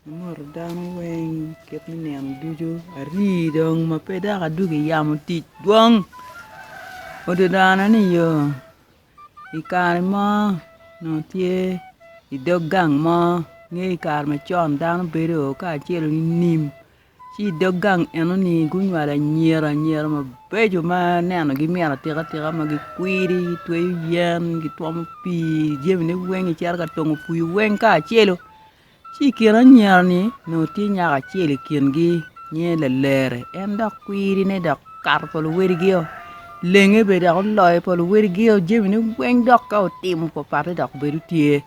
Amoto dano weng kit me nino ducu ari dong ma pe dok adwogo i yamo tic dwong odi dano ni yo i kare mo nongo tye idog gang mo ngeyo i kare macon dano bedo kacel nining Ci i dog gang eno-ni gunywalo anyira anyira mabeco ma nenogi mit atika tika ma gikwidi, gitweyo yen, gitwomo pii, jamine weng gicito ka tongo pii weng kacelu. Ci i kin anyira-ni onongo tye nyako acel i kingi nyinge Lalere en dok kwidine dok okato pa luwadigio, lenge bene dok oloyo pa luwadigio jamine weng dok ka otimo pappate dok bedo tye.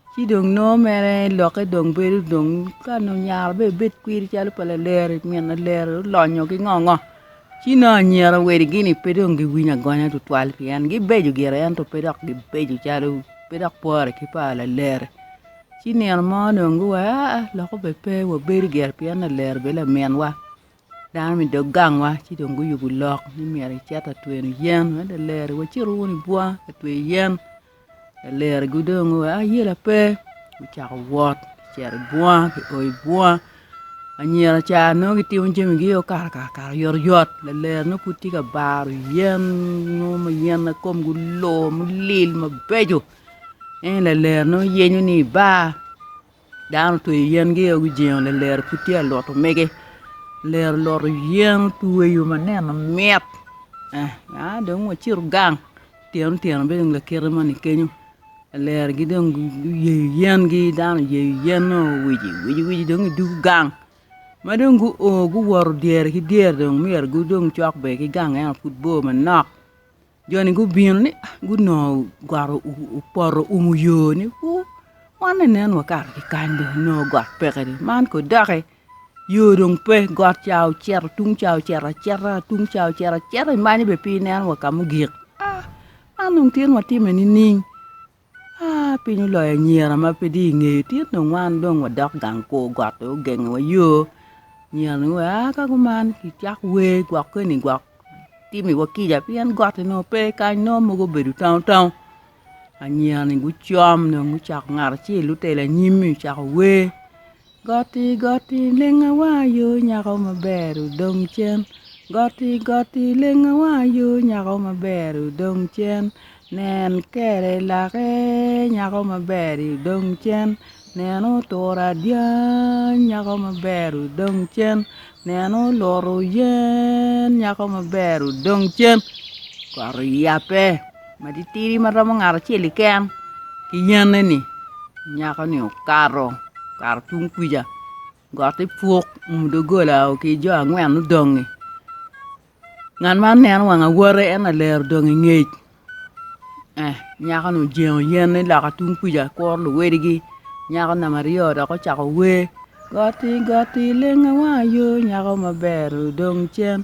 Ci dong nongo mere lokke dong bedo dong ka nongo nyare bene ebed kwiri calo pa laleri, min laleri olonyo ki ngo ngo ci nongo anyira wadigi-ni pe dong giwinyo agonya tutwal pien gibeco gire ento pe dok gibeco calo pe dok pore ki pa laleri. Ci nino mo dong guwaco aa lok obed pe wabedo gire pien laleri obed laminwa. Dano me dog gangwa ci dong guyubo lok ni myero icit ka tweno yen wek laleri wacit wunu i bunga ka tweyo yen laleri gudongo wa ayela pe gucako wot gicito i bunga gio i bunga anyira ca nongo gitimo jamigi o kakaka oyotoyot laleri nongo pud tye ka baro yen mo ma yen ma komgi olor mulil mabeco en laleri nongo yenyo ni ibar Dano otweyo yen gi ogi jingo lilero pud tye ka luto mege lilero oluto yen otweyo ma neno mit aa dong wacito gang tyeno tyeno bene dong lakite moni kenyo lilero gi dong guyeyo yen gi dano oyeyo yen o owici wici wici dong idwogo gang ma dong gu o guwoto dyere ki dyere dong myero gu dong cok bene ki gang ento pud bor manok Jo-ni gubino ni gunongo got opoto oumo yo ni wuu, wan ni nen wakato ki kany dong onongo got peke dong man kong doki yo dong pe got ca ocito tung ca ocito acita tung ca ocito acita imanyo bene pe ineno wa ka mugik man dong tin watime nining Aa, piny oloyo anyira ma pe tye i nge yotin dong wan dong wadok gang kur got pe ogengowa yo. Anyira ni wa aa ka kuman ki cak wer gwokke ni gwok timi wa kica pien gotti nongo pe kany nongo mogo obedo tango tango. Anyira ni gucom dong gucako ngat acel otelo anyim-mi ocako wer Goti goti lenga wa yo nyako maber odong cen Goti goti lenga wa yo nyako maber odong cen Nen kere lake nyako maber-ri odong cen Nen oturo adyang nyako maber odong cen Nen oluto yen nyako maber odong cen Kot oyabbe. Matitidi ma romo ngat acel keken ki yanneni, nyako-ni okato, okato tung kwica, gotti puk, oumo doggola o ki jo angwen mudong-ngi. Ngat man neno wang awote en lalero odong i ngec. Eh, nyako-ni ojengo yenne loka tung kwica kuro luwedigi. Nyako namba aryo dok ocako wer, Gotti gotti lenga wang ayo, nyako maber odong cen,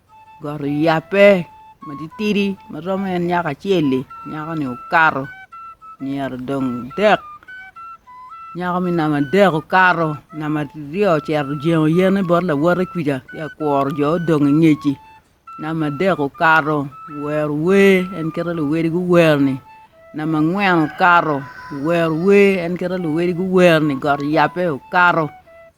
Got oyabbe matitidi ma romo en nyako acel-li nyako-ni okato myero dong dek nyako me namba adek okato namba aryo ocito ojengo yene bot lawote kwija ci akworo jo odong ingec-ci namba adek okato owero wer en kite luwotgi guwer-ni. Namba angwen okato owero wer en kit ma luwedi guwero ni got oyabbe okato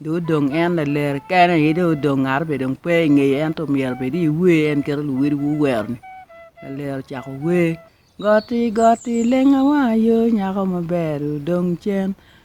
dong odong en lalere kene aye dong odong ngat aye dong pe ingeye ento myero obed i wer en kit ma luwedi guwero ni lalere ocako wer goti goti lenga wanga yoo nyako maber odong cen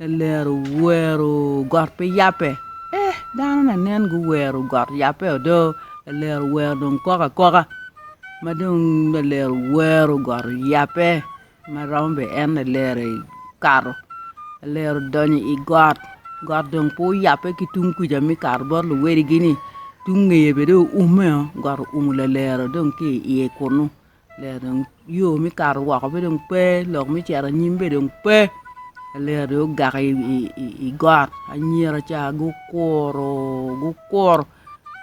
Lalero wero got pe yabbe. Eh, dano na nen guwero got yabbe odo. Lalero wero dong kok akoka ma dong lalero wero got oyabbe ma romo be en lalero kato. Lalero donyo i got, got dong pe oyabbe ki tung kuca me kato bot luwedigi-ni, tung ngeye be dong oume-o, got oumo lalero dong ki i iye kunu. Lega dong yo me kato woko pe dong pe, lok me cito anyim be dong pe, lega dong ogak i got, anyira ca gukuro gukuro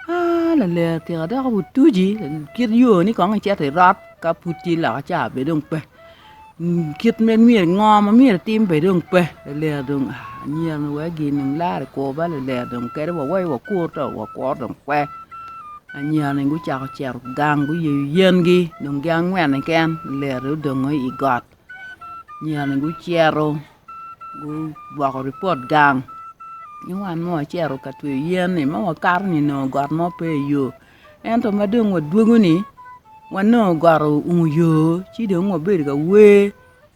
aa lalega tika dok otuci kit yo ni kong icito irot ka pud tye loka ca be dong pe. Kit ma myero ngo ma myero etim bene dong pe lalera dong a anyira ni wee gin dong lare kwo ba lalera dong kadi wawaco wakur to wakwor dong pe anyira ni gucako cito gang guyeyo yengi dong gin angwen keken lalera dong odongo i got anyira ni gucito gugwoko ripot gang ci wan ma wacito ka tweyo yen ni ma wakato ni nongo got mo pe iyo Ento ma dong wadwogo-ni, wanongo got oumo yo, ci dong wabedo ka wer,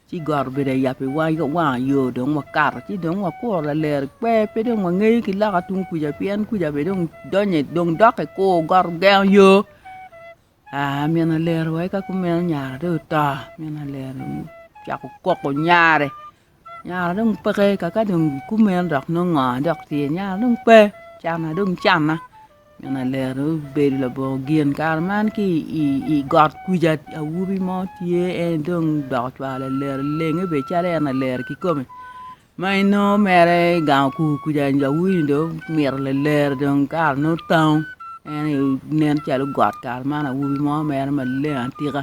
ci got obedo ayaba i wangwa, wanga yo dong wakato. Ci dong wakuro laler ekwer, pe dong wangeyo ki loka tung kuca pien kuca bene dong donyo, dong dok i kur, got ogengo yo. Aa, min alero wa eka kumeno nyare dong oto, min alero ocako koko nyare. Nyara dong peke kaka dong kumeno dok nongo ngo dok tye nyara dong pe canna dong canna nino alero obedo labongo gin kare man ki i got kwica awobi mo tye en dong odoko cwalo alero lenge bene calo en alero kikome ma inongo mere i gang okur kwica awobi ni dong omito lalero dong kare nongo tango en aye nen calo got kare man awobi mo mere maleng atika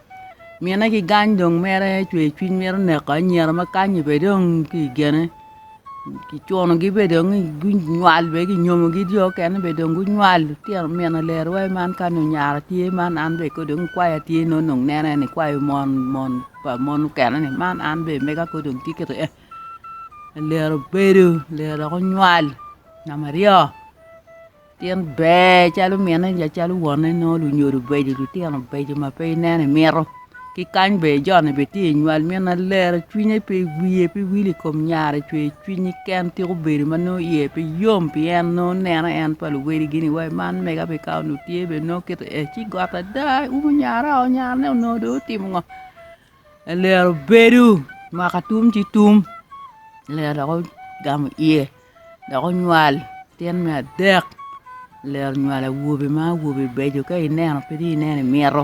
Mine ki gang dong mere cwercwiny mito neko anyira ma kany ni bene dong tye i gene kicunogi bene dong ni gunywal bene kinyomogi jo mukene bene dong gunywal lutino mine leriwa aye man kani onyara tye man an bene kong dong kwaya tye nongo dong neno en ni kwayo mon mon pa mon mukene ni man an bene mega kong dong tye kiti eh ler obedo ler dok onywal namba aryo Tin ber calo mine ja calo wonne nongo lunyodo beco lutino beco ma pe ineno imito ki kany ber joni be tye inywal min na lere cwinye pe wiye pe wil i kom nyare cwer cwinyi ken tika obedo ma nongo iye pe yom pi en nongo neno en pa luwadigi ni wai man mega pi ka onongo tye bene nongo kiti ee ci got ada umm nyara oo nyarane onongo dong otimo ngo Lalelo bedo mwaka tum ki tum lalelo dok ogamo iye dok onywal latin me adek lalelo onywalo awobi ma awobi beco ka ineno pe dong ineno imito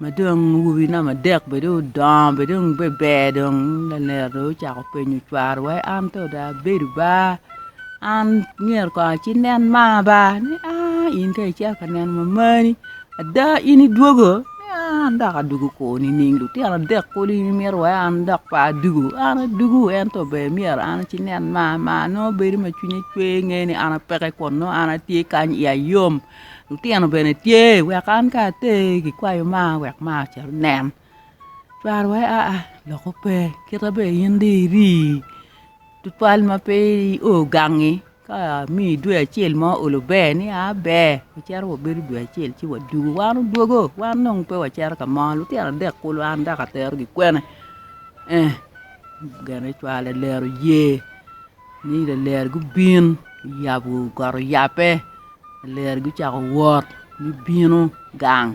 ma dong awobi namba adek bene dong odongo bene dong beber dong lalelo dong ocako penyo cware wa an to dong abedo ba an myero kong aci nen ma ba ni aa in kong icito ka neno mamani ada in idwogo Pe an dok adwogo kor nining? Lutino adek kulu imito wai an dok pe adwogo? An adwogo, ento ber myero an acinen ma ma nongo bedo ma cwinya cwer inge ni an apeke kun nongo an atye kany iya yom. Lutino bene tye wek an ka ater gikwayo ma wek ma ocit onen. Cware wai aa loko pe, kita ber in dong iri tutwal ma pe i o gangi. Ka amiyi dwe acel ma olo ber ni a ber, wacito wabedo dwe acel ci wadwogo. Wan odwogo, wan dong pe wacito ka mo, lutino adek kulu an dok aterogi kwene? Ee, gene cwale lalere oye ni lalere gubin, oyabo got oyabbe, lalere gucako wot me bino gang.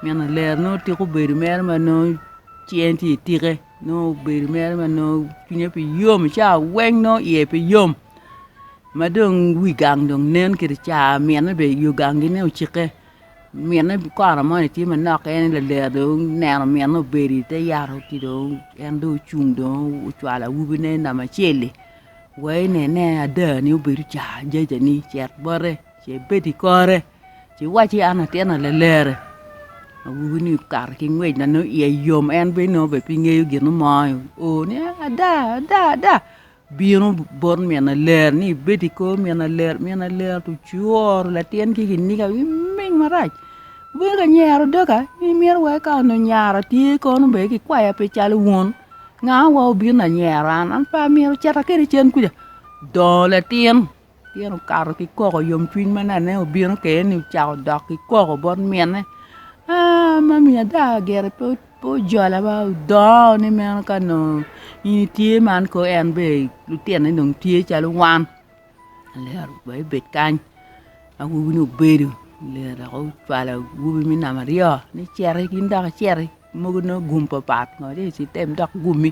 Nino lero nongo tika obedo mere ma nongo ci en tye itike nongo obedo mere ma nongo cwinye pe yom ica weng nongo iye pe yom ma dong wi gang dong nen kede ca mine be yo gang gine ocikke mine kona moni tye manok en aye laler dong oneno mine obedo ite yat ci dong en dong ocung dong ocwalo awobine nambacel-li wa inene ada ni obedo ca jajani cet bote ce bed ikore Ci wacci an atyena lalere, awobi ni okato ki ngwec na nongo iye yom en bene nongo bene pe ngeyo gin mo o ni ada ada ada bino bot min laler ni ibed i kor min laler, min laler to cworo latin ki kiniga ki ming marac bino ka nyero doga in imito wai ka onongo nyara tye kono bene ki kwaya pe calo wun nga wa obino lanyero an, an pe amito cita kwede cen kuca dongo latin. Pien okato ki koko yomcwiny ma nene obino kwede-ni ocako dok ki koko bot minne, Aa, mami ada gire pe ojola ma odongo ni meno ka nongo in itye man kong en bene lutine dong tye calo wan, lero wa ebed kany. Awobi-ni obedo lero dok ocwalo awobi me namba aryo ni citi in dok iciti, mogo nongo gum papat ngo ci item dok gumi.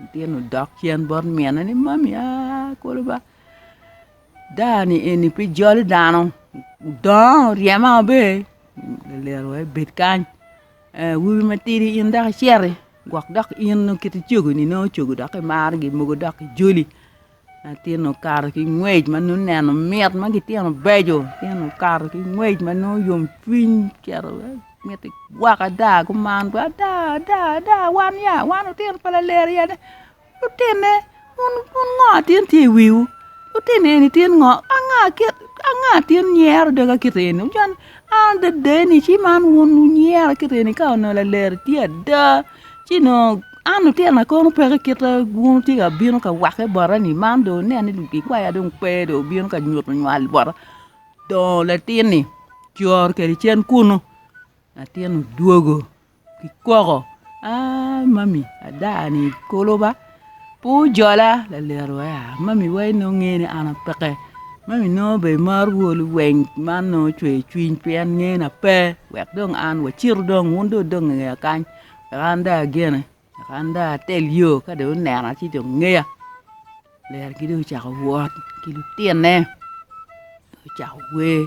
Litino odok cen bot mine ni, Mami aa kulu ba, daa-ni eni pe jolo dano, odongo oryema maber, olero wai bed kany, awobi matidi in dok iciti gwok dok in nongo kit cogoni nongo cogo dok imargi mogo dok ijoli. Latin okato ki ngwec ma nongo neno mit ma gitino beco, latin okato ki ngwec ma nongo yom cwiny ocito mito gwoko ada kuman bene ada ada ada wan ya wan lutino pa Lalere ya ada lutinne wun ngo ma tin tye i wiwu lutino eni tin ngo anga kit anga tin nyero doga kit eni an adedeni ci man wun wunyero kit eni ka onongo Lalere tye ada. Ci onongo an lutinona kono peke kite bwunu tye ka bino ka wakke bota ni man dong wunen ni ludikwaya dong pe dong obino ka nyuto nywal bota dongo latin-ni coro kwede cen kunu latin odwogo ki koko aa mami ada-ni kolo ba. Pe wujola, lalet wea, ma mi wai nongo nge ni an apeke, ma mi nongo be imar wolu weng man nongo cweyo cwiny pien nge na pe, wek dong an wacitu dong wun dong wudong inge ya kany, wek an dong agene, wek an dong atel yo ka dong wunena ci dong ngeya. Ler-ri dong ocako wot ki lutine, gucako wer.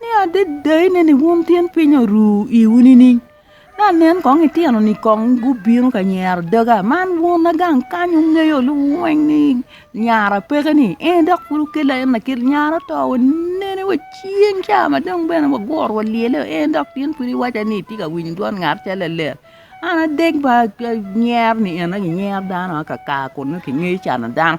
Ni adada inen ni wun tyen piny oru iwu nining? Ni anen kong itino ni kong gubino ka nyero daga man wun agang kany wungeyo lu weng ni nyara peke ni ee dok pud wukela en akel nyara oto wa nene wa cing ca ma dong bene wa guro wa lyele o en dok in pud iwaca ni itye ka winyo dwon ngat acel lalet an adek ba nyer ni en aye nyer dano aka kar kunu kingeyo cano dano.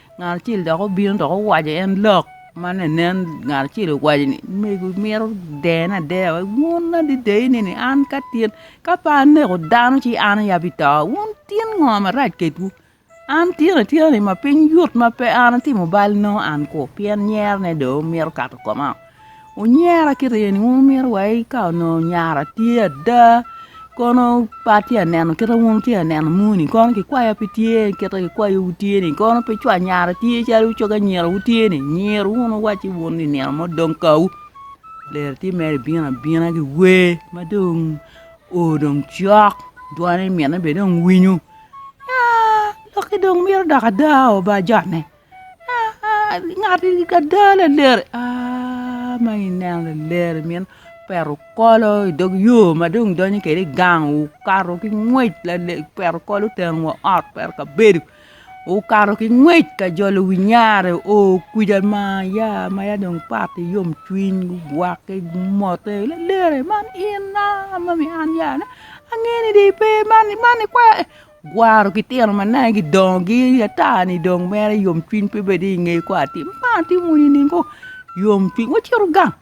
Ngat acel dok obino dok owaco en lok ma ne nen ngat acel owaco ni mego imito dene adeya wek wun adida ineni an ka tin ka pe aneko dano ci an aye abito wun tin ngo marac kedwu an tin atina ni ma piny yot ma pe an atimo bal nongo an kwo pien nyerone dong mito kato komao. Wunyera ki ryeni wun wumito wai ka onongo nyara tye ada kono pe atye ka neno kit ma wun wutye ka neno moni kono kikwaya pe tye kit ma kikwayo tye-ni kono pe cwa nyara tye calo cogo anyira wutye-ni nyiru wunu wacci wun ni nino mo dong kawu ler tye mere ibino abina ki wer ma dong o dong cok dwone mine bene dong winyo aa lokki dong mito dok ada oo bajone. Ngati ada laleri ma ineno laleri mito peto kolo i dog yo ma dong idonyo kwede i gang okato ki ngwec opeto kolo oteno wa ot opeto kabedo okato ki ngwec ka jolo wi nyare oo kwija ma ya ma ya dong opate yom cwiny ogwake omote laleri man in a ma an ya angeyo ni dong ipe man ikwayo Gwaro ki tino ma nangge gidongo gi ata ni dong mere yom cwiny pe bedi inge kor atim ma atimo ni nining koo yom cwiny wacito gang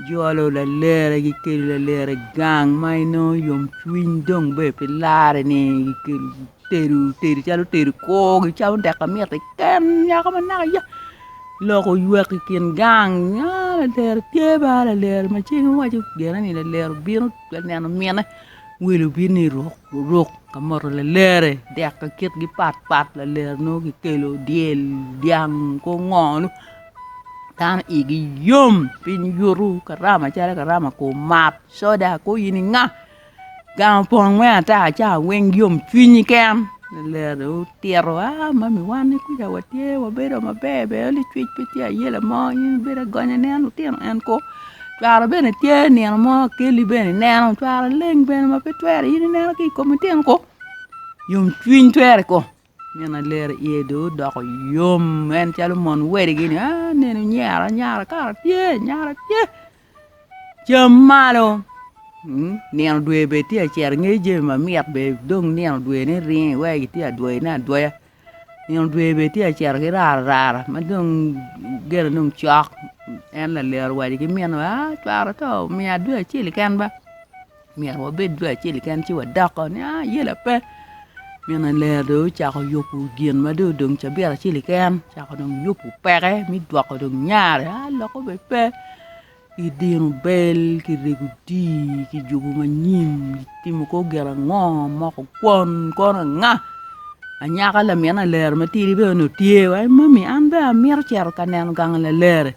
jolo lalere gikelo lalere i gang ma inongo yom cwiny dong bene pe lare ni gikelo tedo tedo calo tedo koo gicamo dek ma mitte keken nyako ma naka ya lok oywek i kin gang aa lalere tye ba lalere macen iwaco gene ni lalere obino bene neno mine Welo bino i ruk ruk ka moto lalere dek ka kitgi pat pat lalere nongo kikelo dyel dyang kor ngo-nu dano igi yom piny yutu karama calo karama kor mat coda kor in inga gang opong me ata ca weng yom cwinyi ken lalere dong otito a mami wan ni kuca watye wabedo maber ber onli cwec pe tye ayela mo in ibedo agonya nen lutino en kong Cwalo bene tye nino mo akelli bene ineno cwalo leng bene ma pe twero in ineno ki i kom itino kong yomcwiny twero kong nino alelo iye dong odoko yom en calo mon wadigi ni aa nenu nyera nyara kara tye nyara tye cam malo nino dwe bene tye ka cito ingeyo jami mamit bene dong nino dwene iringo iweko itye adwoyone adwoya. Nino dwe bene tye ka cito ki rarara ma dong gene dong cok en laliro owaco ki mine ni aa cwara oto miya dwe acel keken ba myero wabed dwe acel keken ci wadok oo ni aa yela pe mine ler dong ocako yubo gin ma dong odong cabit acel keken ocako dong yubo peke me gwoko dong nyare aa lok obed pe I dino bel ki rego odii ki jubo manyim itimo kor gin ango moko kwon kono anga anyaka lamin alere matidi bene onongo tye wa i mami an bene amito cito ka neno gang lalere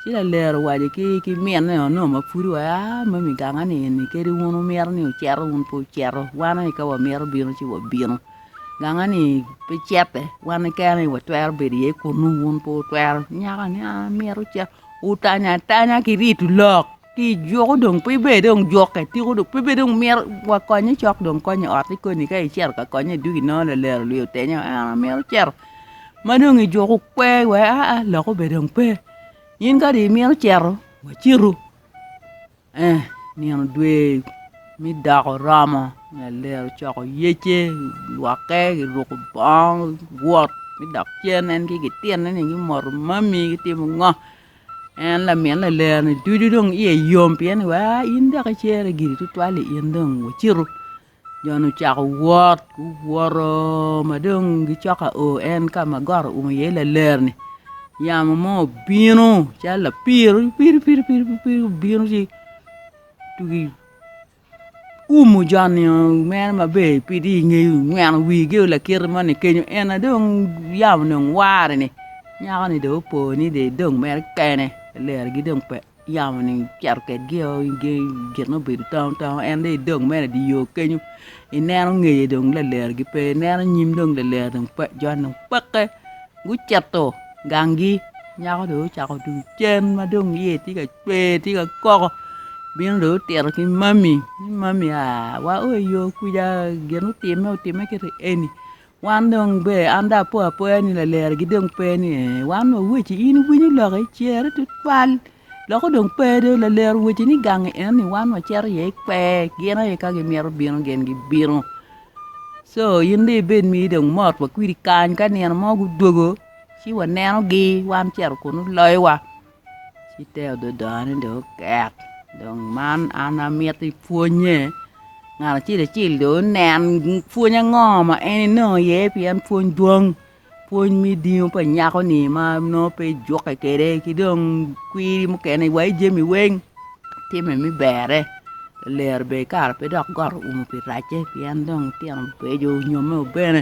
ci lalere owaco ki minne o nongo mapwod wa aa mami ganga ni eni kadi wun wumito ni wucito wun pe wucito wan aye ka wamito bino ci wabino ganga ni pe cete wan keken aye watwero bedo iye kunu wun pe wutwero nyaka ni an amito cito Wutanyo atanya ki rito lok ki i juko dong pe iber dong jukke tiko dong pe dong myero wa konye cok dong konye i otti koni ka icito ka konye i ducu inongo lalero lwio otenyo en aye mito cito ma dong i juko kwe wek aa lok obed dong pe in kadi imito cito wa citu. Ento nino dwe me dok oromo, Ler ocoko yecce, gilwokke, giruko bongo, giwot me dok cen. En ki gitinone gimoto mami gitimo ngo? En lamin Ler-ni ducu dong iye yom pien ni wa in dok icere giri tutwal-li in dong wacitu. Jo-ni ocako wot, guwoto ma dong gicok ka o en ka ma got oumo iye laler-ni, yamo mo obino calo lapiro piri piri piri obino ci tugi oumo jo-nio mere maber pe tye inge yo ingweno wigi o lakite moni kenyo en aye dong yamo ni oware-ni nyako-ni dong opo ni dong mere kene ler-gi dong pe yamo-ni ocito kwedgi o i gangi gin ma obedo tongo tongo en dong idog mere i dye yo kenyo ineno ngeye dong lalergi pe ineno nyim dong laler dong pe jon dong peke gucito gangi nyako dong ocako tung cen ma dong iye tye ka cwer tye ka koko bino dong otito ki mami ni mami aa wa o i yo kwija gin otimme otimme kiti eni Wan dong ber an dong apo apoya ni laleragi dong pe ni ee, wan dong wacci in iwinyo loki cere tutwal loko dong pe dong laler owacci ni gangi enoni wan wacito iye i kwer gin aye ka gimito bino gin gibino co in dong ibed ma dong imot wa kwidi kany ka nino mo gudwogo ci wanenogi wan cito kunu loyowa. Ci te adada ni dong okek, dong man an amito ipwonye ngat acel acel dong onen pwony ango ma en enongo iye pien pwony dwong, pwony me idingo pa nyako-ni ma nongo pe ijukke kwede ki dong kwiri mukene wa ijami weng timme me berre, lero bene kara pe dok got oumo pi racce pien dong litino beco onyomme wa bene.